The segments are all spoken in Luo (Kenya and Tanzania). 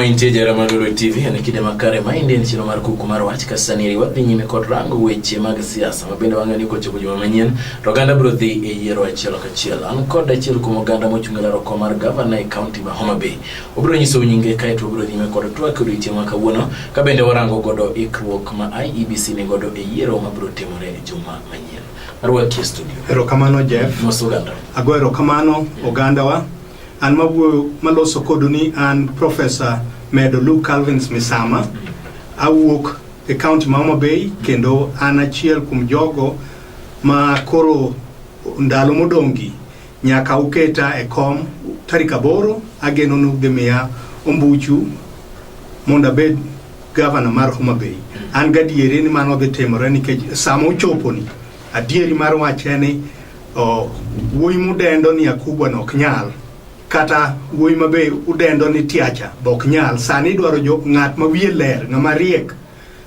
Mantie jara mag Lulu TV en kinde makare ma inde chino mar kuku mar wach kasaniri wadhi nyime kod rango weche mag siasa ma bende wang'e ni kochopo juma manyien to oganda biro dhi e yiero achiel kachiel. An kod achiel kuom oganda mochung' e laro kom mar gavana e kaunti ma Homa Bay. Obiro nyiso nyinge kae to obiro nyime kod twak odiochieng' ma kawuono ka bende warango godo ikruok ma IEBC ni godo e yiero ma biro timore e juma manyien. Arwaki e studio. Erokamano Jeff. Mos oganda. Ago erokamano ogandawa. An mawuoyo maloso kodu ni an Professor Medo Luke Calvins Misama. Mm. Awuok e county ma Homa Bay kendo an achiel kuom jogo ma koro ndalo modongi Nyaka uketa e kom tarik aboro, ageno ni udhi miya ombuchu mondo abed gavana mar Homa Bay. An gadieri ni mano dhi timore nikech sama ochoponi, adieri mar wach en ni oh, wuoyi mudendo ni Akubwa no ok nyal kata wuoyi ma be udendo ni Tiacha be ok nyal. Sani idwaro jo ng'at ma wiye ler, ng'ama riek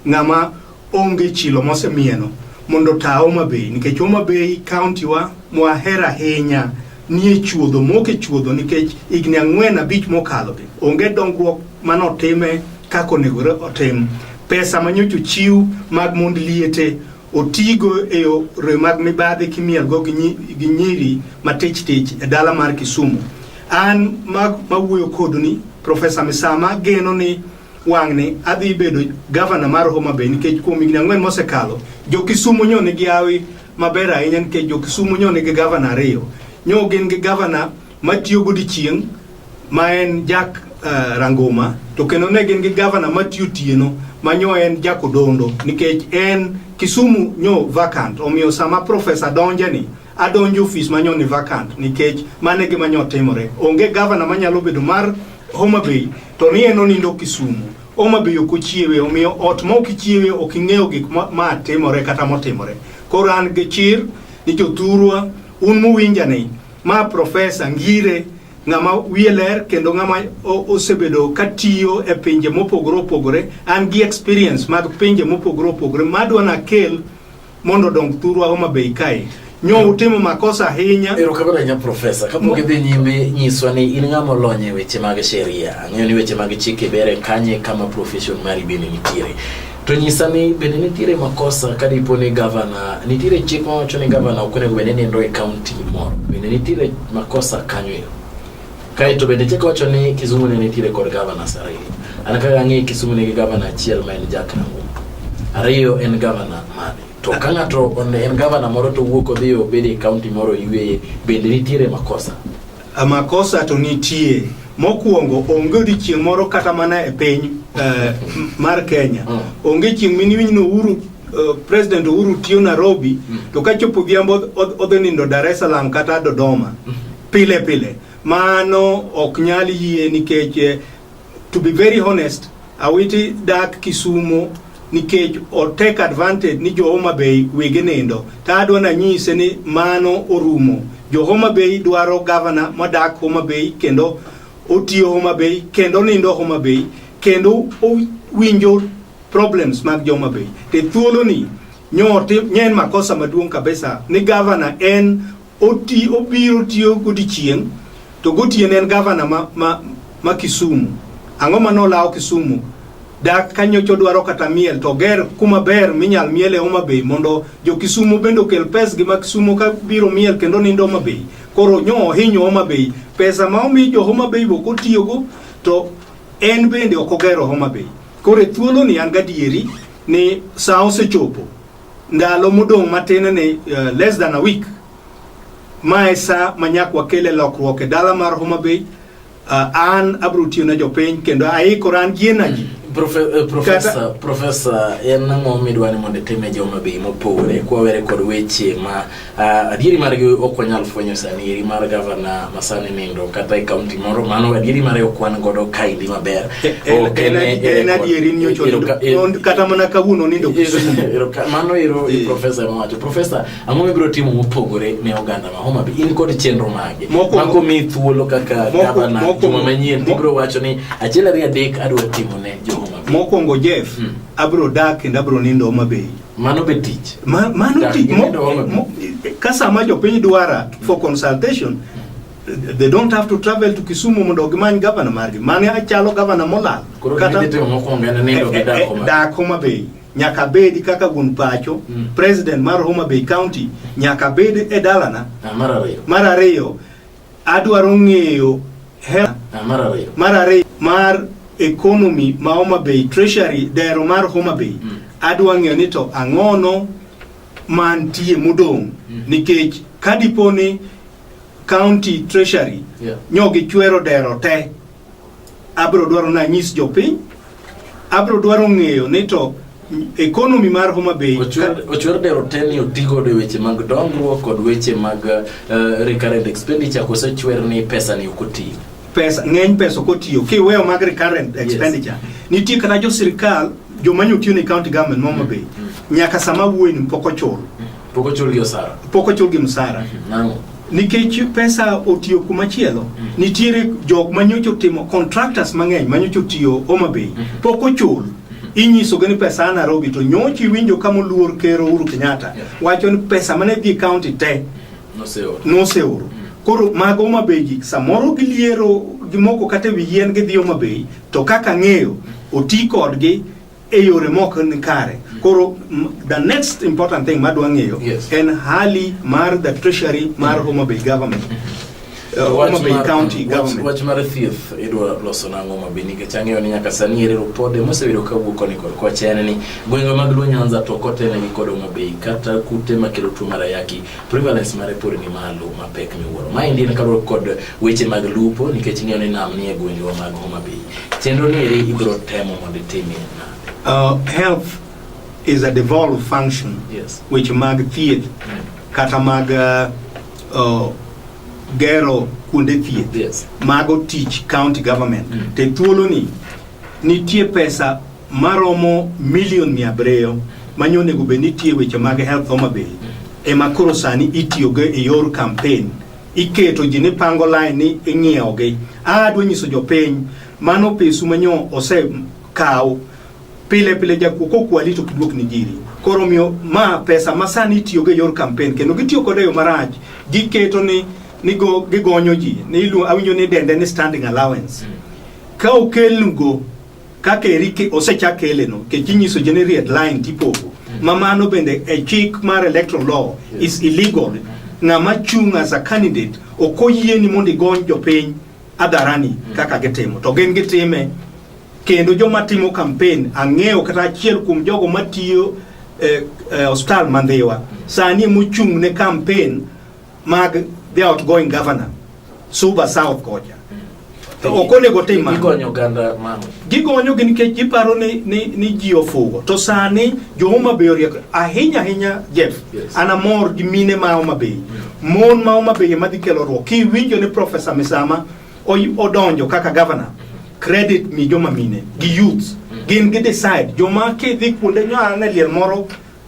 Ng'ama onge chilo mosemieno mondo ta Homa Bay nikech Homa Bay county wa mwahera ahinya nie chuodho moke chuodho nikech igni ang'wen abich mokalo gi onge dongruok mane otime kaka onego otim pesa manyocho chiw mag mond liete otigo e yore mag mibadhi kimielgo gi nyiri matich tich e dala mar Kisumu an mawuoyo koduni Profesa Misama geno ni wang'ni adhi bedo gavana mar Homa Bay nikech kuom higni ang'wen mosekalo jo Kisumu nyo nigi hawi maber ahinya nikech jo Kisumu nyo nigi gavana ariyo nyo gin gi gavana matiyo godiechieng' ma en Jack uh, Ranguma to kendo ne gin gi gavana matiyo tieno ma nyo en Jack Odondo nikech en Kisumu nyo vacant omiyo sama profesa donjeni adonjo ofis manyo ni vacant nikech mano e gima nyo timore. Onge gavana manyalo bedo mar Homa Bay to ni en onindo Kisumu. Homa Bay ok ochiewe, omiyo ot ma ok ichiewe ok ing'eyo gik ma, ma timore kata motimore. Koro an gi chir ni jothurwa un muwinja ni ma profesa Ngire ng'ama wiye ler kendo ng'ama o- osebedo ka tiyo e pinje mopogore opogore an gi experience mag pinje mopogore opogore madwa nakel mondo odong thurwa Homa Bay kae nyo utimo makosa ahinya. Erokamano ahinya Profesa, kapok idhi nyime nyiswa ni in ng'ama olony e weche mag sheria, ang'eyo ni weche mag chike bere kanye kama profession mari bende nitiere. To nyisa ni bende nitiere makosa ka dipo ni gavana, nitiere chik mawacho ni gavana ok onego bed ni nindo e kaunti moro, bende nitiere makosa kanyo ero? Kae to bende chik wacho ni Kisumu ne nitiere kod gavana ariyo. An kaka ang'e Kisumu nigi gavana achiel ma en Jack Nang'o. Ariyo en gavana mane? To ka ng'ato en gavana moro to wuok odhi obed e kaunti moro yueye, bende nitiere makosa? A makosa to nitie. Mokwongo onge odiechieng' moro kata mana e piny uh, mar Kenya. Mm. Onge chieng' miniwinj ni Uhuru uh, President Uhuru tiyo Nairobi mm. to kachopo odhiambo odhi nindo Dar es Salaam kata Dodoma. Mm. pile pile. Mano ok nyal yie nikech eh, to be very honest, Awiti dak Kisumo nikech o take advantage ni jo Homa Bay wege nindo. Ta adwa na nyise ni mano orumo. Jo Homa Bay dwaro governor modak Homa Bay kendo otiyo Homa Bay kendo nindo Homa Bay kendo owinjo problems mag jo Homa Bay. Te thuolo ni nyote nyen makosa maduong kabisa ni governor en Oti, obiro tiyo godichieng' to gotieno en gavana ma, ma, ma Kisumu. Ang'o ma nolawo Kisumu? Dak ka nyocha odwaro kata miel to oger kuma ber minyal miele Homa Bay mondo jo Kisumo bende okel pesgi ma Kisumo ka biro miel kendo nindo Homa Bay. Koro nyo ohinyo Homa Bay. Pesa ma omi jo Homa Bay bok otiyogo to en bende ok ogero Homa Bay. Koro e thuoloni an gadieri ni sa osechopo Ndalo modong' matin ni uh, less than a week ma e sa ma nyak wakele lokruok e dala mar Homa Bay uh, an abro tiyo ne jopiny kendo aikora an gi energy Profe, eh, profesa, profesa, en ang'o midwa ni mondo itim ne joma bei mopogore kwawere kod weche ma Uh, adieri margi ok wanyal fwenyo sani eri mar gavana masani nindo kata e kaunti moro mano adieri mare ok wan godo kaendi maber kata mana kawuono nindo mano ero profesa mawacho profesa ang'o mibiro timo mopogore ne oganda ma homa bi in kod chenro mage mako mi thuolo kaka gavana juma manyien tibiro wacho ni achiel ariyo adek adwa timo ne jo homa bi mokwongo jeff hmm. abiro dak kendo abiro nindo homa bay Mano be tich. Ma, mano Dak- tich mo, gimedo olo. mo, ka sama jopiny dwara for consultation they don't have to travel to Kisumu mondo gimany gavana margi. Mane achalo gavana molal. Koro Kata- gidhi timo mokwongo en nindo gi Eh, eh, dak Homa Bay. dak Homa Bay nyaka bedi kaka gun pacho Mm. president mar Homa Bay County nyaka bedi e dalana Ah, mar ariyo. mar ariyo Adwaro ng'eyo hela Ah, mar ariyo mar ariyo mar economy ma Homa Bay treasury dero mar Homa Bay Mm. adwa ng'eyo ni to ang'ono mantie modong' Mm. nikech kadipo ni county treasury Yeah. nyogi chwero dero te abro dwaro na nyis jopiny abro dwaro ng'eyo ni to economy mar Homa Bay ochwer dero teni otigo de weche mag dongruok kod weche mag uh, recurrent expenditure kose chwer ni pesa ni okotiyo pesa ng'eny pesa okotiyo kiweyo mag recurrent expenditure yes. nitie kata jo sirkal joma nyotiyo ne county government Homa Bay mm -hmm. nyaka sama wuoyi ni pok ochul mm -hmm. Pok ochulgi osara. Pok ochulgi msara. Mhm, nang'o? Nikech pesa otiyo kuma chielo, mhm. nitiere jok manyocho timo contractors mang'eny manyocho tiyo Homa Bay. Mhm. Pok ochul. inyiso gani pesa ana robi to nyochi iwinjo kama oluor ker Uhuru Kenyatta yeah. wacho ni pesa mane dhi county te noseoro noseoro mm. koro mago Homa Bay gi samoro giliero gimoko kata wi yien gidhi Homa Bay to kaka ng'eyo oti kodgi e yore mok ni kare. Mm. Koro the next important thing madwa ng'eyo yes. en hali mar the treasury mar mm. Homa Bay government. Mm -hmm. Homa Bay County government. Wach mar thieth idwa loso nang'o Homa Bay nikech ang'eyo ni nyaka sani ere ripode mosebedo ka wuok koni kod kocha en ni gwenge mag Luo Nyanza to ok otelnegi kod Homa Bay kata kute makelo tuo mar ayaki prevalence mare pod ni malo mapek miwuoro. Maendi en kaluwore kod weche mag lupo nikech ing'eyo ni nam nie gwengewa mag Homa Bay. Chenro ni eri ibiro temo mondo itimie nade? Uh, health is a devolved function yes. weche mag thieth mm. kata mag uh, uh, gero kuonde thieth yes. mago tich county government mm. te thuoloni nitie pesa maromo milion mia abiriyo manye onego bed ni tiyo weche mag health Homa Bay ema koro sani itiyogo e yor campaign iketo ji ni pango line ni ing'iewogi adwa nyiso jopiny mano pesu manyo osekaw pile pile jakuo kokwali to kidwok ni jiri koro miyo ma pesa ma sani itiyogo e yor campaign kendo gitiyo kode e yo marach giketo ni nigo gigonyo ji ni ilu- awinjo ni dende ni standing allowance ka okelnugo Kaka eri osechak keleno kech inyiso jene red line tipogo mm. ma mano bende e chik mar electoral law is illegal ng'ama chung as a candidate ok oyieni mondo igony jopiny adharani mm. kaka gitimo to gin gitime kendo joma timo campaign ang'eyo kata achiel kuom jogo matiyo eh, eh, hospital mandhiwa sani mochung' ne campaign mag the outgoing governor Suba South kocha to ok onego tim mano. Gigonyo ganda mano. Gigonyo gin nikech giparo ni ni ni ji ofugo. To sani jo Homa Bay oriek ahinya ahinya Jeff. Yes. Ana mor gi mine ma Homa Bay. Mm. Mon ma Homa Bay ema dhi kelo ruok. Ki winjo ni Professor Misama odonjo kaka governor. Credit mi joma mine gi youths. Mm. Gin gi decide joma ki dhi kuonde nyo ane liel moro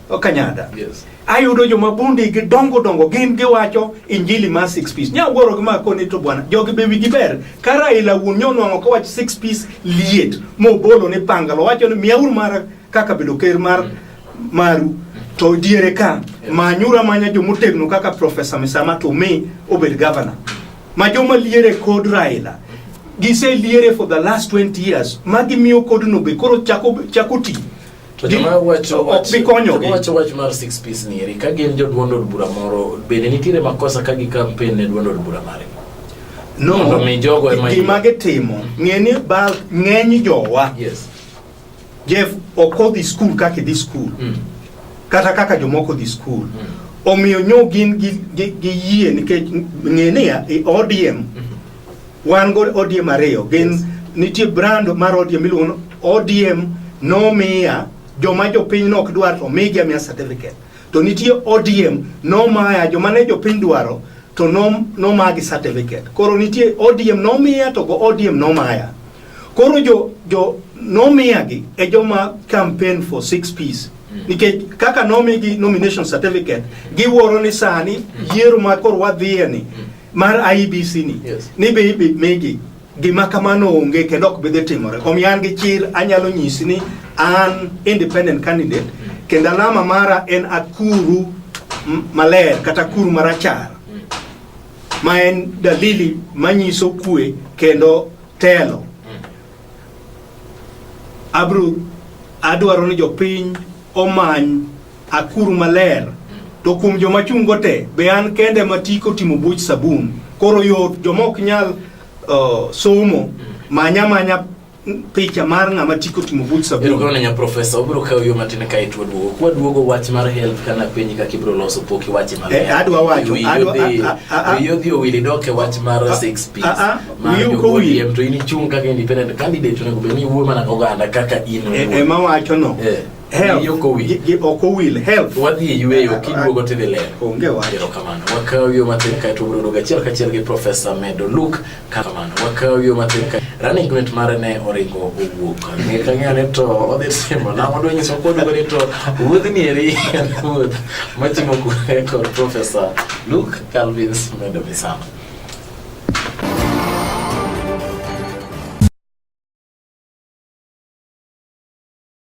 Okanyada. Yes. Ayudo joma bundi gi dongo dongo gin giwacho injili mar six piece. Nya wuoro gi mako ni to bwana jogi be wigi ber. Ka Raila wuon nyonwang'o ka wach six piece liet mobolo ni pangalo wacho ni miya uru mar kaka bedo ker mar maru to diere ka manyura manya jomotegno kaka Professor Misama to me obed governor. Ma joma liere kod Raila giseliere for the last 20 years ma gimiyo kodno be koro chako chako ti To joma wacho ok wach bi konyogi. joma wacho wach mar six piece ni eri ka gin jo duond od bura moro bende nitiere makosa ka gi campaign ne duond od bura mare. no Mondo mi jogo ema gima yie. gitimo ng'e ni bal ng'eny jowa Yes. jeff ok odhi skul kaka idhi skul Mm. kata kaka jomoko dhi skul omiyo nyo gin gi- gi gi yie nikech ng'e niya i odm Wan go ODM ariyo gin yes. nitie brand mar ODM miluongo ODM nomiya joma jopiny nok dwar to migi amiya certificate to nitie ODM nomaya joma ne jopiny dwaro to nomagi certificate koro nitie ODM nomiya to go ODM nomaya koro jo jo nomiyagi e joma campaign for six piece mm. nikech kaka nomigi nomination certificate giwuoro ni sani mm. yiero ma koro wadhiyeni mm. mar IBC ni yes. ni be ibi migi gima kamano onge kendo ok bidhi timore. Omiyo an gi chir anyalo nyisi ni an independent candidate kendo alama mara en akuru maler kata kuru marachar ma en dalili manyiso kue kendo telo. Abro adwaro ni jopiny omany Akuru maler to kuom joma chungo te be an kende ma tiko timo buch sabun koro yot joma ok nyal uh, somo manya manya picha mar ng'ama tiko timo buch sabun erokamano nya profesa obiro kawo yo matin ka itwa duogo kwa duogo wach mar health kana penyi kaka ibiro loso pok iwache maber Eh, adwa wacho, Wiyi adwa- odhi- a- a- a- wiyi odhi owili dok e wach mar A- six piece a- a, mar wiyi ok owil. jo-ODM to in ichung' kaka independent candidate onego bed ni iwuoyo mana ka oganda kaka in E- owuon. ema wacho no Eh. Health. Wiyi ok owil. Gi- gi- ok owil health wadhi e yueyo kiduogo tidhi lero onge wach erokamano wakaw yo matin kae to wabiro achiel kachiel gi profesa medo luk kamano wakaw yo matin kae running mate mare ne oringo owuok ang'e kang'ane to odhi timo na odwa nyiso koduogo ni to wuodhni eri en wuoth matimo kure kod profesa luk calvins medo misano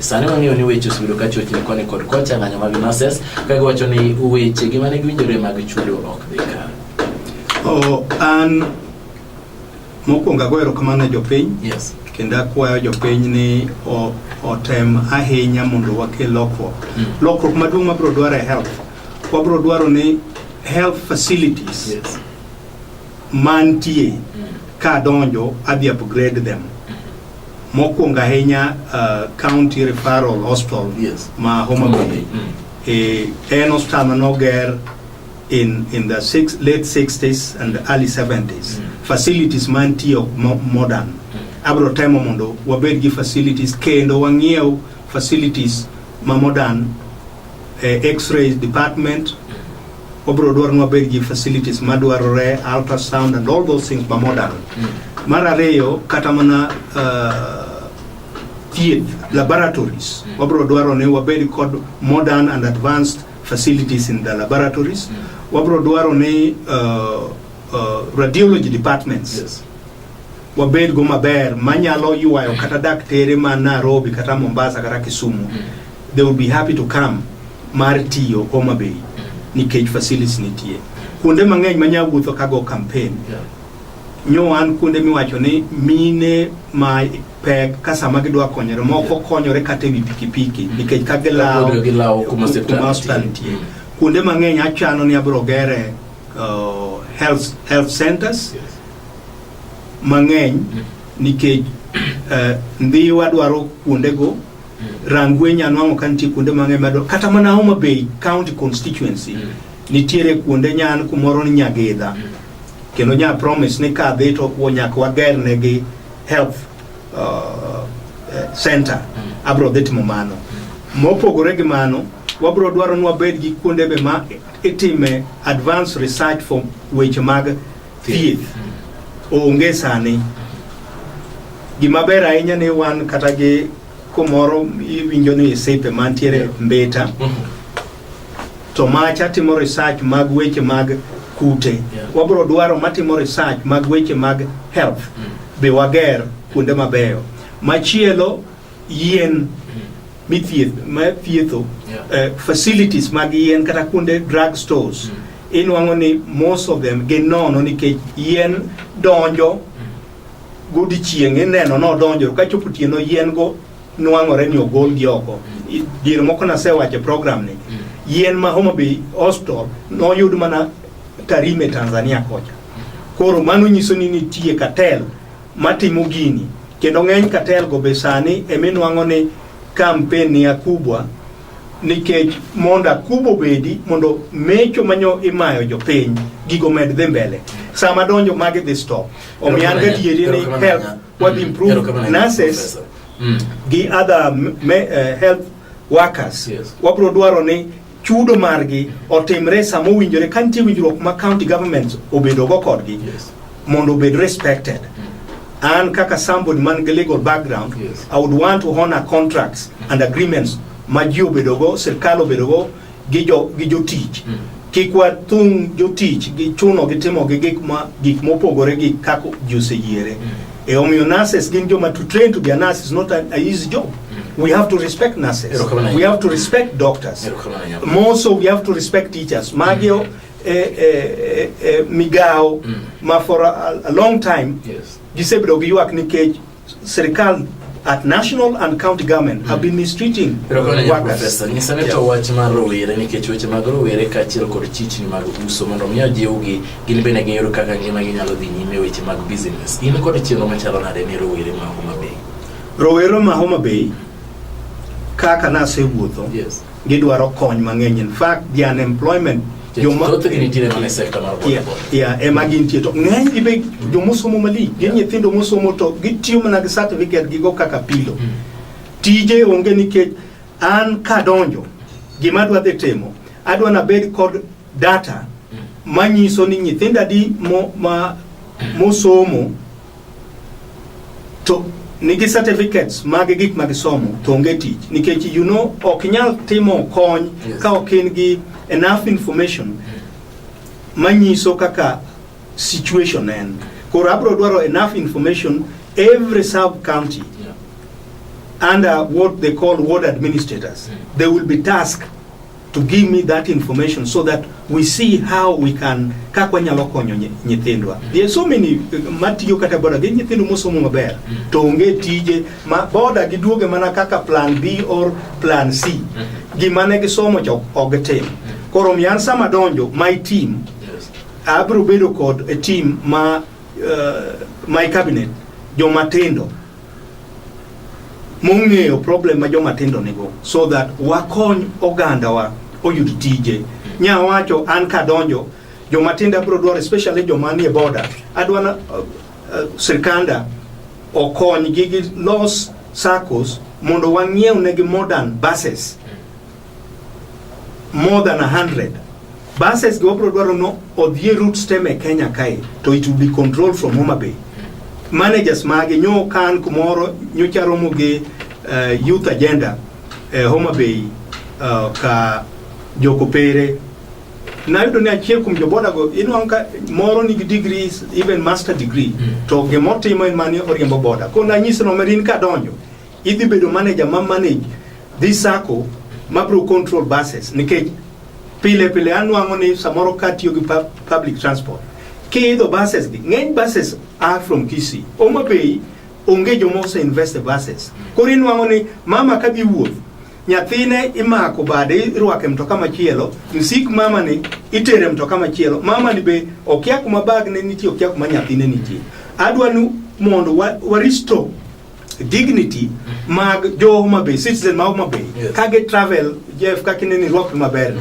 Sani wang'eyo ni weche osebedo ka chochni koni kod kocha ng'anyo mag nurses ka giwacho ni weche gi mane giwinjore mag chudo ok dhi kare. Oh, an mokwongo ago erokamano ne jopiny Yes. kendo akwayo jopiny ni o- otem ahinya mondo wakel lokruok Mm. lokruok maduong' mabiro dwaro e health wabiro dwaro ni health facilities Yes. mantie ka donjo adhi upgrade them mokwongo ahinya uh, county referral hospital Yes. ma Homa Bay eh, en hospital manoger in, in the six, late 60s and early 70s facilities mantie ok mo- modern abro temo mondo wabed gi facilities kendo wang'iew facilities ma modern eh, x-ray department obiro dwaro ni wabed gi facilities madwarore ultrasound and all those things ma modern mar ariyo kata mana uh, thieth laboratories wabiro dwaro ni wabed kod modern and advanced facilities in the laboratories wabiro dwaro ni uh, uh, radiology departments Yes. wabed go maber manyalo ywayo kata daktere ma Nairobi kata Mombasa kata Kisumu they would be happy to come mar tiyo Homa Bay nikech facilities nitie kuonde mang'eny ma nya wuotho kago campaign yeah. nyo an kuonde miwacho ni mine ma pek ka sama gidwa konyore moko konyore kata ewi pikipiki mm. nikech ka gilawo kuma hospital nitie kuonde mang'eny achano ni abiro gere uh, health, health centers yes. mang'eny mm. nikech uh, ndhiwa dwaro kuondego Rangwenyi anwang'o ka nitie kuonde mang'eny madongo kata mana Homa Bay County constituency mm. nitiere kuonde nyan kumoro ni Nyagidha mm. kendo nya promise ni ka dhi to nyaka wager negi health uh, eh, center mm. abro dhi timo mano mm. mopogore gi mano wabro dwaro ni wabed gi kuonde be ma itime advanced research for weche mag thieth onge sani gima ber ahinya ni wan kata gi kumoro iwinjo ni isipe mantiere mbita to macha timo research mag weche mag kute Yeah. wabro dwaro matimo research mag weche mag health be wager kuonde mabeyo machielo yien mithieth ma thietho Yeah. eh, facilities mag yien kata kuonde drug stores inwang'o ni most of them gin nono nikech yien donjo godichieng' ineno nodonjo ka chopo otieno yien go nwang'ore ni ogolgi oko I- diere moko nasewacho e program ni yien ma Homa Bay hospital noyud mana Tarime Tanzania kocha koro mano nyiso ni nitie cartel matimo gini kendo ng'eny katel go be sani eminwang'o ni kampen ni akubwa nikech mondo akubo bedi mondo mecho manyo imayo jopiny gigo med dhi mbele sama donjo magi dhi stop omiyo an gadieri ni help wadhi improve nurses gi other me, uh, health workers Yes. wabiro dwaro ni chudo margi otimre e sama owinjore ka nitie winjruok ma county governments obedogo kodgi yes. mondo obed respected mm. an kaka somebody man gi legal background yes. i would want to honor contracts and agreements ma ji obedogo sirkal obedogo gi jotich mm. kik wathung' jotich gi chuno gi timo gi gik mopogore gi kaka ji oseyiere mm. E omiyo nurses gin joma to train to be a nurse is not a, a easy job. Mm. We have to respect nurses. We have to respect doctors. More so we have to respect teachers. Magio mm. eh, eh, eh, eh migao mm. ma for a, a long time yes. gisebedo gi ywak nikech sirikal at national and county government have been mistreating workers. Nyisane to wach mar rowere nikech weche mag rowere kaachiel kod chichni mag uso mondo mi ojiwgi Gin bende giyudo kaka ngima ginyalo dhi nyime e weche mag business. In kod chenro machalo nade ne rowere ma Homa Bay? Rowere ma Homa Bay kaka nasewuotho yes. gidwaro kony mang'eny in fact the unemployment ema gintie to ng'eny gi be jomosomo malich gin nyithindo mosomo to gitiyo mana gi certificate gigo kaka pilo hmm. tije onge nikech an kadonjo gima adwa dhi timo adwa nabed kod data manyiso ni nyithindo adi mo, ma, mosomo to nigi certificates mag gik ma gisomo to onge tich nikech you know ok nyal timo kony Yes. ka ok in gi enough information manyiso kaka situation en koro abro dwaro enough information every sub county Yeah. under what they call ward administrators they will be tasked to give me that information so that we see how we can kaka wanyalo konyo nyithindwa mm. there are so many uh, matiyo kata boda gi nyithindo mosomo maber mm. to onge tije ma boda giduoge mana kaka plan B or plan C mm-hmm. gima ne gisomo to ok tim mm. koro miyan sama donjo my team abro bedo kod a team ma uh, my cabinet jomatindo mong'eyo problem ma joma tindo nigo so that wakony ogandawa oyud tije. Nya wacho an kadonjo joma tindo abiro dwaro especially joma nie border adwa na uh, uh, sirkanda okonygi gi los SACCOs mondo wang'iew negi modern buses more than 100 buses go bro dwaro no odhie route stem e Kenya kae to it will be controlled from Homa Bay managers mage nyo kan kumoro nyocha romo gi uh, youth agenda e uh, Homa Bay uh, ka jokopere nayudo ni achiel kuom joboda go inwang' ka moro nigi degree even master degree mm. to gimotimo en mani oriembo boda ko nanyise no merin kadonjo Idhi bedo manager ma manage this circle ma bro control buses nikech pile pile anwang'o ni samoro ka tiyo gi public transport kiidho buses gi ng'eny buses are from Kisii Homa Bay onge joma ose invest e buses koro inwang'o ni mama ka dhi wuoth nyathine imako bade irwake mtoka machielo msik mama ni itere mtoka machielo mama ni be okia kuma bag ne nitie okia kuma nyathine nitie adwa ni mondo wa, wa restore dignity mag jo Homa Bay, citizen ma Homa Bay, Yes. ka gi travel Jeff ka kine ni rwakni maber.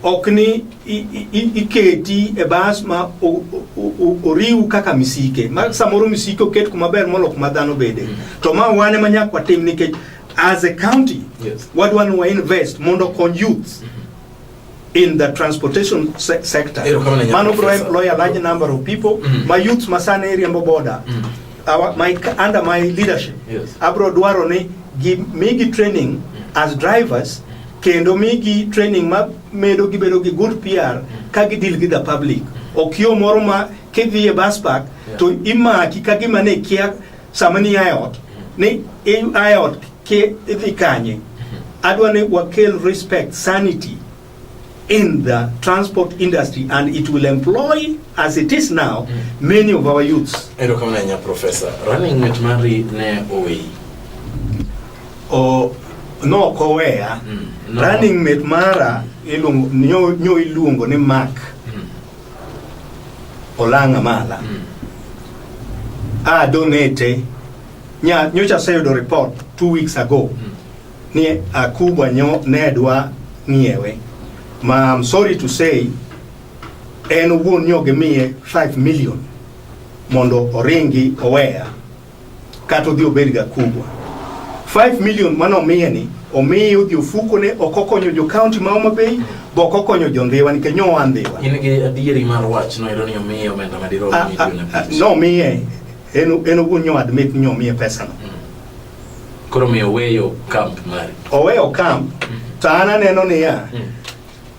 Ok ni i- i- i- iketi e bas ma o- o- o- oriw kaka misike. Ma samoro misike oket kuma ber molo kuma dhano bede. To ma wane ma nyaka watim nikech as a county Yes. wadwa ni wa invest mondo okony youth in the transportation se sector. Mano bro employ a large number of people. Mm -hmm. My youth masana area mbo border. Mm -hmm. Our, my, under my leadership. Yes. Abro dwaro ni gi migi training mm -hmm. as drivers kendo migi training ma medo gibedo gi good PR mm. ka gi deal gi the public. Okio moro ma kidhi e bus park yeah. to imaki ka gima ne kia Sama ni ae ot, ni ae ot ke idhi kanye? Adwa ni wakel respect, sanity in the transport industry and it will employ as it is now mm. many of our youths. Ero kama na professor, running with Mary ne owe. O no kowea. Mm. No. Running mate mara iluongo nyo, nyo iluongo ni Mark. Mm. Olang' Amala mm. a donate nya nyocha aseyudo report two weeks ago mm. ni akubwa nyo ne dwa ng'iewe ma I'm sorry to say en owuon nyo gimiye 5 million mondo oringi oweya kata odhi obed ga kubwa 5 million mane omiye ni omiye odhi ofuko ne ok okonyo jo county ma Homa Bay be ok okonyo jo Ndhiwa nikech nyo wan Ndhiwa in gi adieri mar wach no ero ni omiye omenda ma dirom Ah, ah, milion ah, abich no miye en en owuon nyo admit nyo miye pesa no koro miyo weyo camp mari oweyo camp to an aneno niya Mm.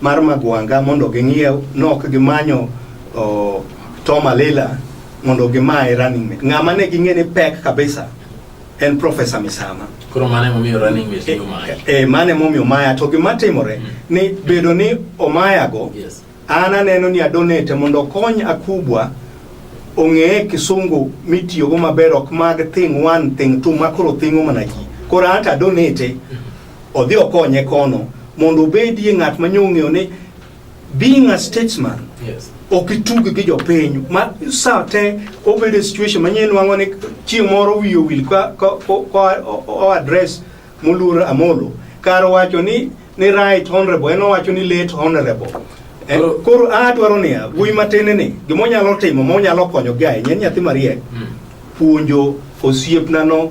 mar Magwanga mondo ging'iew nok gimanyo oh, Tom Alila mondo gimaye running mate. Ng'ama ne ging'e ni pek kabisa en Professor Misama. Koro mane momiyo running mate ni Omaya. E, mane momiyo Omaya to gima timore mm. ni bedo ni Omaya go yes. an aneno ni adonate mondo okony Akubwa ong'eye kisungu mitiyogo maber ok mag thing one thing two makoro thingo mana ji koro ata adonate mm. odhi okonye kono mondo obedie ng'at ma nyo ong'eyo ni being a statesman yes. ok itug gi jopiny ma sa te obedo e situation manyien nwang'o ni chieng' moro wiye owil koadres moluor Amolo kar wacho ni ni right honorable en owacho ni late honorable eh, koro adwaro niya wuoyi matin ni gima onyalo timo ma onyalo konyogi ahinya en nyathi mariek hmm. puonjo osiepnano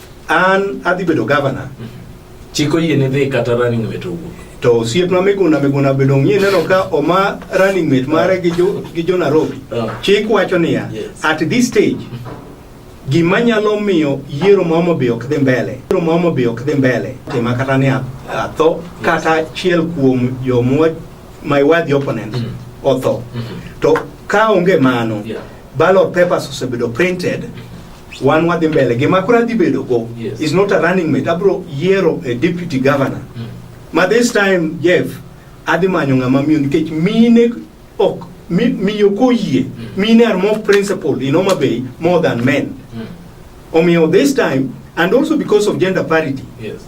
An adhi bedo governor. Chiko yie ne dhi kata running mate owuok. To osiepna Miguna Miguna bedo ng'ie neno ka oma running mate mare gi jo gi jo Nairobi. Ah. Chik wacho niya, Yes. at this stage gima nyalo miyo yiero ma Homa Bay ok dhi mbele, yiero ma Homa Bay ok dhi mbele, tima kata ni a- atho kata achiel kuom jomwa my worthy opponents Mm. otho. Mhm. To ka onge mano, Yeah. ballot papers osebedo printed Wan wadhi mbele. Gima koro adhi bedo go yes. is not a running mate. Abro yiero a deputy governor. Mm. Ma this time Jeff adhi manyo ng'ama miyo nikech mine ok mi, miyo koyie mm. mine are more principled in Homa Bay more than men. Mm. Omiyo this time and also because of gender parity. Yes.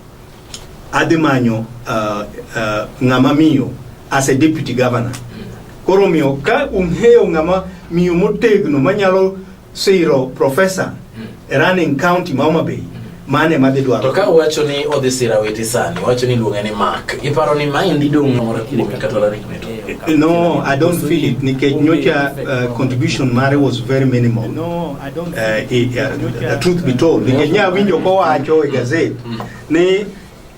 Adhi manyo uh, uh, ng'ama miyo as a deputy governor. Mm. Koro miyo ka ung'eyo ng'ama miyo motegno manyalo siro profesa mm. e running county ma Homa Bay mm. mane madhi dwaro. To ka wacho ni odhi sira weti sani, wacho ni luonge ni Mark. Iparo ni maendi dong' moro kuom kata lari kwetu. Eh, no, I don't feel it nikech nyocha uh, contribution mare was very minimal. No, I don't feel uh, it. Uh, the truth be told, nikech nya winjo kowacho e gazet mm. ni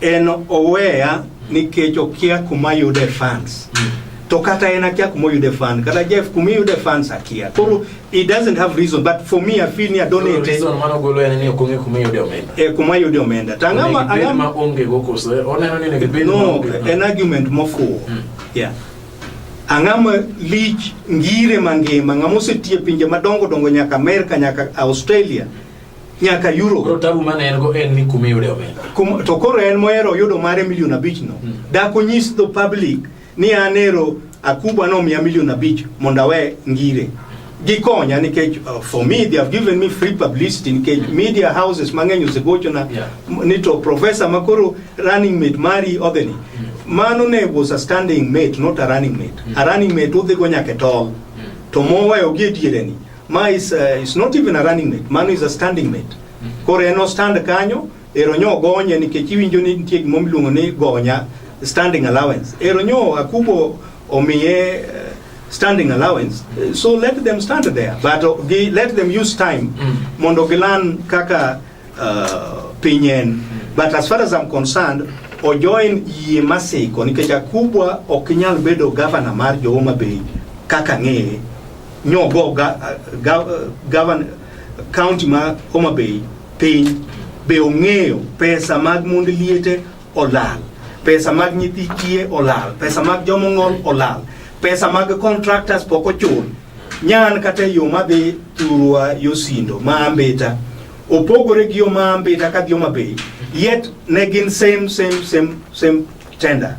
En oweya nikech okia kuma yude fans. Mm. To kata en akia kuma yude fans. Kata Jeff kuma yude fans akia. Koro he doesn't have reason but for me I feel ni adonate. Reason mano golo en ni okonge kuma yude omenda. Eh kuma yude omenda. Tangama angama onge go kose. Oneno ni ne gibed no, an argument mofuwo. Mm. Yeah. ang'ama lich ngire mangima ng'ama osetie pinje madongo dongo nyaka Amerika nyaka Australia nyaka euro koro tabu mane en go en ni kuma iyude omenda Kum, to koro en mohero yudo mare milion abich no Mm. dak onyis the public ni an ero akuba nomiya milion abich mondo awe ngire gikonya nikech uh, for me they have given me free publicity nikech media houses mang'eny osegochona Yeah. m- ni to professor makoro running mate mari odhini mano ne was a standing mate not a running mate a running mate udhigo nyaka e tol to moweyo gi e diereni Ma is, uh, is not even a running mate, mano is a standing mate. Koro en ostand kanyo, ero nyo gonye nikech iwinjo ni nitie gima miluongo ni gonya standing allowance. Ero nyo akubo omiye uh, standing allowance, uh, so let them stand there, but uh, gi, let them use time Mm. mondo gilan kaka uh, piny en. But as far as I'm concerned, ojoin yie masiko nikech akubwa ok nyal bedo governor mar jo Homa Bay kaka ng'eye nyo go ga, ga, gavan, county ma Homa Bay piny be ong'eyo pesa mag mond liete olal pesa mag nyithi kiye olal pesa mag jomong'ol olal pesa mag contractors pok ochul nyan kata e yo madhi thurwa yosindo ma ambita opogore gi yo ma ambita ka dhi Homa Bay yet ne gin same same same same tender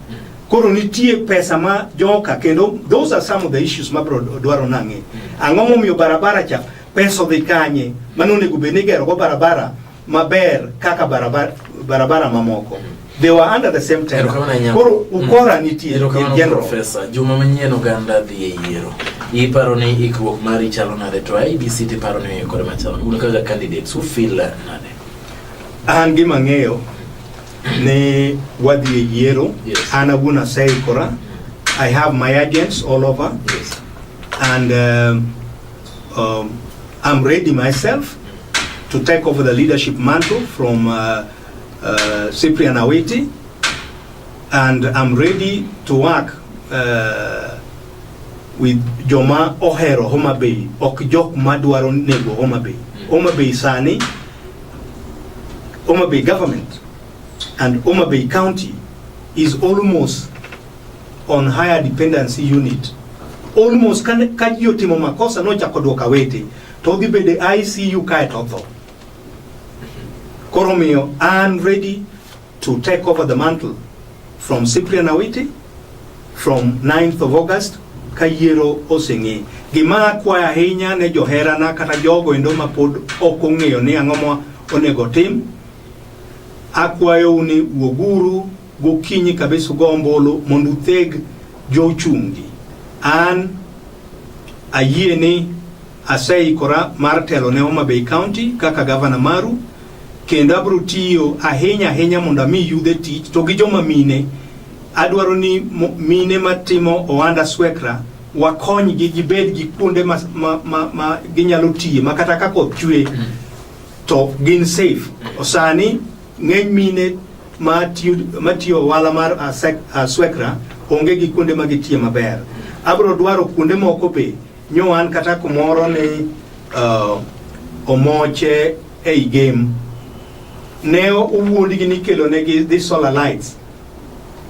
koro nitie pesa ma joka kendo those are some of the issues ma bro dwaro nang'e ang'o momiyo barabara cha pesa odhi kanye mano onego bed ni go barabara maber kaka barabara, barabara mamoko they were under the same time koro mm. ukora nitie in general professor juma manyien oganda dhi e yiero iparo ni ikruok mari chalo nade to IBC ti paro ni ikore machalo un kaka candidates who feel nade an gima ng'eyo ne wadhi e yiero yes. an awuon aseikora mm. i have my agents all over yes. and um, um, i'm ready myself to take over the leadership mantle from uh, uh, cyprian awiti and i'm ready to work uh, with joma ohero homa bay ok jok madwaro nego homa bay mm. homa bay sani Homa Bay government and Homa Bay County is almost on higher dependency unit almost kan ka ji otimo makosa nochako dwoka wete to odhi bedo e ICU kae to otho. Koro miyo an ready to take over the mantle from Cyprian Awiti from 9th of August ka yiero oseng'e. Gima akwayo ahinya ne joherana kata jogo endo ma pod ok ong'eyo ni ang'o ma onego tim, akwayou ni wuoguru gokinyi kabisa ugo ombulu mondo utheg jochungi. An ayie ni Aseikora mar telo ne Homa Bay County kaka gavana maru kendo abiro tiyo ahinya ahinya mondo ami yudhe tich to gi joma mine adwaro ni mine matimo ohanda swekra wakonygi gibed gi kuonde ma, ma, ma, ma ginyalo tiye ma kata ka koth chwe mm. to gin safe mm. osani ng'eny mine matiyo ohala mar aswekra onge gi kuonde ma gitiye maber abro dwaro kuonde moko be Nyo wan kata kumoro ni uh, omoche ei game ne owuondgi ni kelonegi dhi solar lights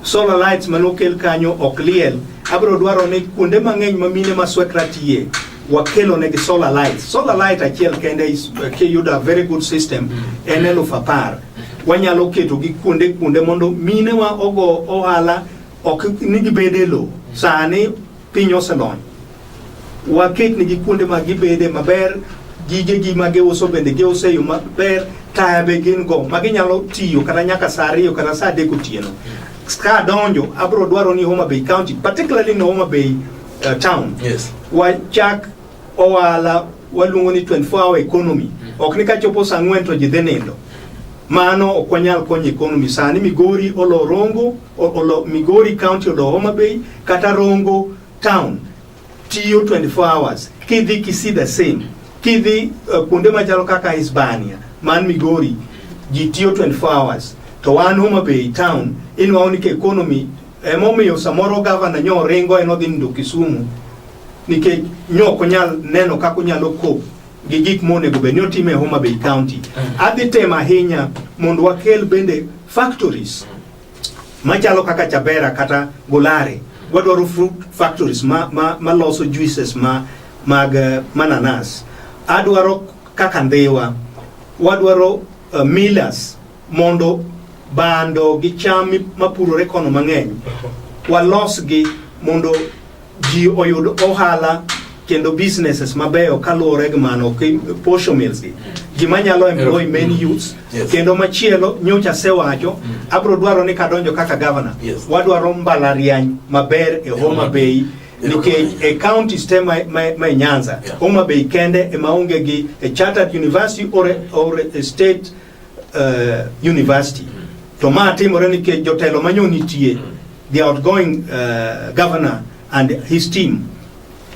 solar lights mane okel kanyo ok liel abiro dwaro ni kuonde mang'eny ma mine ma swekra tiye wakelo negi solar lights solar light achiel kende is- kiyudo a very good system en eluf apar wanyalo keto gi kuonde kuonde mondo mine wa ogo ohala ok ni gibede lo sani Piny oselony, waketnegi kuonde ma gibede maber, gigegi ma giuso bende giuso e yo maber, taya be gin go ma ginyalo tiyo kata nyaka sa ariyo kata sa adek otieno. Ka adonjo, abiro dwaro ni Homa Bay County, particularly ni Homa Bay uh, Town, Yes. wachak Ohala waluongo ni 24 hour economy. Ok ni kachopo saa ang'wen to ji dhi nindo. Mano ok wanyal konyo economy. Sani Migori olo Rongo, o- olo Migori County olo Homa Bay kata Rongo town tiyo 24 hours. Kidhi Kisii the same. Kidhi uh, kuonde machalo kaka Hispania man Migori ji tiyo 24 hours. To wan Homa Bay town inwawo ni ka economy emomiyo samoro gavana nyo oringo en odhi nindo Kisumu nikech nyok onyal neno kaka onyalo kop gi gik monego bed ni otime e Homa Bay County. Mm. Adhi tem ahinya mondo wakel bende factories machalo kaka Chabera kata Golare. Wadwaro fruit factories ma, ma, ma loso juices ma, mag eh, mananas. Adwaro kaka Ndhiwa. Wadwaro uh, millers mondo bando gi cham mapurore kono mang'eny walosgi mondo ji oyud ohala kendo businesses mabeyo kaluwore gi mano posho mills gi gima nyalo employ many youths kendo machielo nyocha asewacho mm. abro dwaro ni kadonjo kaka governor wadwaro mbalariany maber e Homa Bay nikech e county stem ma, ma, ma e Nyanza yeah. Homa Bay kende ema onge gi a chartered university or a, or a state uh, university to ma timore nikech jotelo manyo nitie the outgoing uh, governor and his team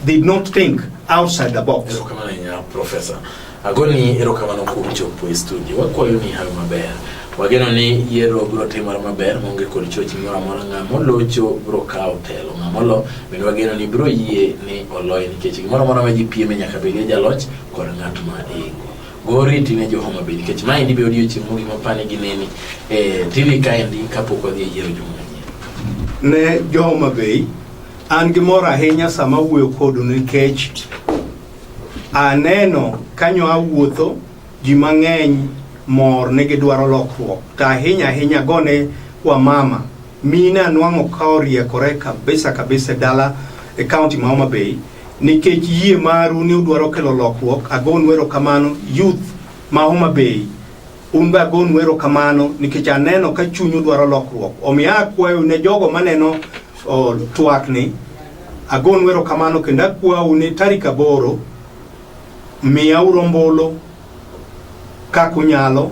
did not think outside the box erokamano ahinya professor agoni erokamano kuom chopo e studio wakwayo ni hayo maber wageno ni yiero biro timore maber maonge kod choch moro amora ng'a molocho biro kawo telo ng'a molo bende wageno ni biro yie ni oloye nikech gimoro amora ma ji pieme nyaka bedie jaloch kod ng'at ma ingo Goriti ne jo Homa Bay nikech maendi be odiochieng' mogik mapani gi neni e eh, TV kaendi kapok wadhi e yiero juma ne jo Homa Bay an gi mor ahinya sama awuoyo kodu nikech aneno kanyo awuotho ji mang'eny mor ni gidwaro lokruok to ahinya ahinya gone wamama mine anwang'o ka oriekore kabisa kabisa e dala e kaunti ma Homa Bay Nikech yie maru ni udwaro kelo lokruok, agonu erokamano. Youth ma Homa Bay, un be agonu erokamano nikech aneno ka chunyu dwaro lokruok. Omiyo akwayo ne jogo maneno oh, twakni, agonu erokamano kendo akwau ni tarik aboro miyauru ombulu kaka unyalo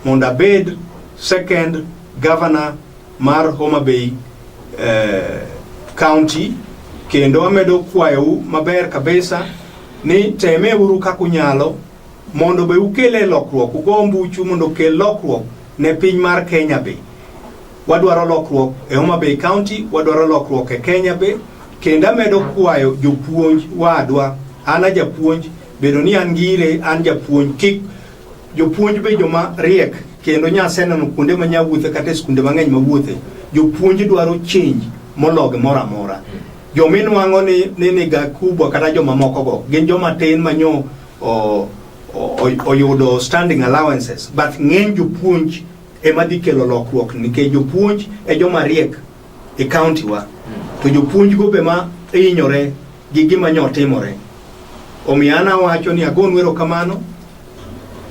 mondo abed second governor mar Homa Bay eh, County kendo amedo kwayou maber kabisa ni teme uru kaka unyalo mondo be ukele lokruok ugo mbuchu mondo ukel lokruok ne piny mar Kenya be wadwaro lokruok e Homa Bay County wadwaro lokruok e Kenya be kendo amedo kwayo jopuonj wadwa an ajapuonj bedo ni an ngire an japuonj kik Jopuonj be joma riek kendo nyaseneno kuonde ma nyawuothe kata e skunde mang'eny mawuothe jopuonj dwaro change mologi moro amora joma inwang'o ni ni niga kubwa kata joma moko go gin joma tin ma nyo o- o- o- oyudo standing allowances but ng'eny jopuonj ema dhi kelo lokruok nikech jopuonj e joma riek e county wa to jopuonj go be ma hinyore gi gima nyo timore. Omiyo an awacho ni agonu erokamano.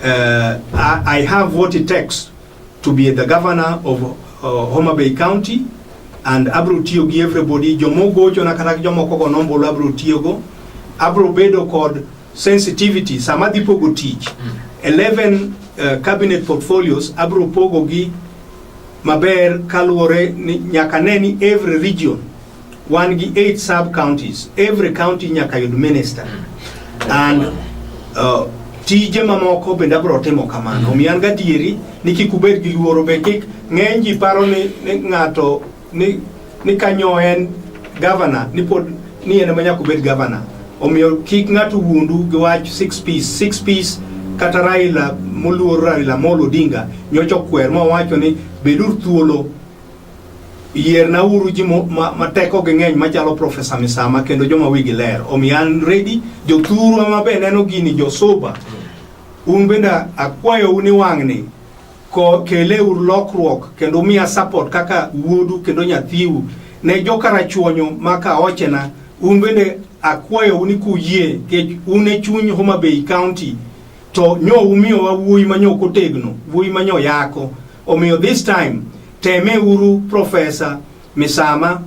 Uh, I, I have what it takes to be the governor of uh, Homa Bay County and abro tiyo gi everybody jomogocho na kata jomoko go nombolo abro tiyogo abro bedo kod sensitivity sama adhi pogo tich 11 mm. uh, cabinet portfolios abro pogo gi maber kaluwore ni nyaka ne ni every region Wan gi eight sub counties. Every county nyaka yud minister. Mm. And uh, tije mamoko bende abro timo kamano. Omiyo an gadieri ni kik ubed gi luoro be kik ng'eny ji paro ni, ni ng'ato ni, ni kanyo en governor ni pod ni en ema nyaka obed governor. Omiyo kik ng'ato wuondu gi wach six piece. Six piece kata Raila moluor Raila Amolo Odinga nyocha okwer mowacho ni beduru thuolo yierna uru ji mateko gi ng'eny machalo profesa misama kendo joma wigi ler omiyo an redi jothurwa mabe neno gini josuba un bende akwayou ni wang'ni kele ur lokruok kendo umiya support kaka wuodu kendo nyathiu ne jokarachuonyo maka ochena un bende akwayou ni kuyie kech un e chuny Homa Bay County to nyo umiyowa wuoyi manyo kotegno wuoyi manyo yako Omiyo this time teme uru Profesa Misama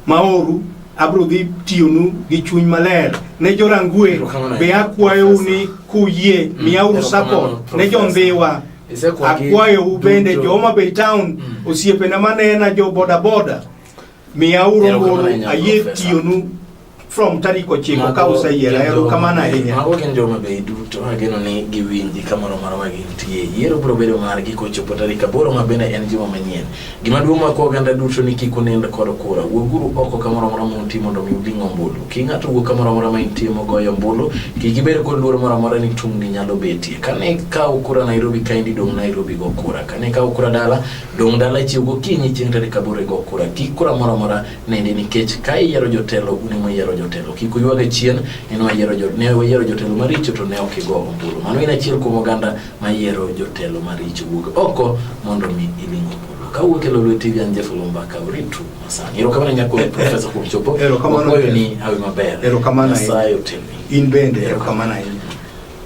Maoru abro dhi tiyonu gi chuny maler ne jorangwe be akwayou ni kuyie mm, miyauru support ne jondhiwa akwayou bende joma Bay Town mm. osiepena manena jo bodaboda Miya uru ombulu ayie tiyonu from tarik ochiko ka useyiera erokamano ahinya mago gin joma bei duto ageno ni giwinji kamoro marwa gintie yiero biro bedo margi kochopo tarik aboro ma bende en juma manyien gima duong' mako oganda duto ni kik unind kod kura wuoguru oko kamoro amora ma untie mondo mi uding' ombulu ki ng'ato wuok kamoro amora ma intie mogoyo ombulu kik ibed kod luoro moro amora ni tungni nyalo betie kane ikawo kura Nairobi ka indi dong' Nairobi go kura kane ikawo kura dala Dong' dala chiew gokinyi chieng' tarik aboro igo kura. Kik kura moro amora nindi nikech ka iyiero jotelo un ema uyiero jotelo. Kik uywage chien ni ne wayiero ne wayiero jotelo maricho to ne ok igo ombulu. Mano in achiel kuom oganda ma yiero jotelo maricho. Wuog oko mondo mi iling ombulu. Ka wuok e Lolwe TV an Jeff Olomba ka uritu masani. Erokamano nyako Professor kuom chopo. Erokamano. Wakuayo ni hawi maber. Erokamano. Nyasaye otelni. In bende erokamano ahinya.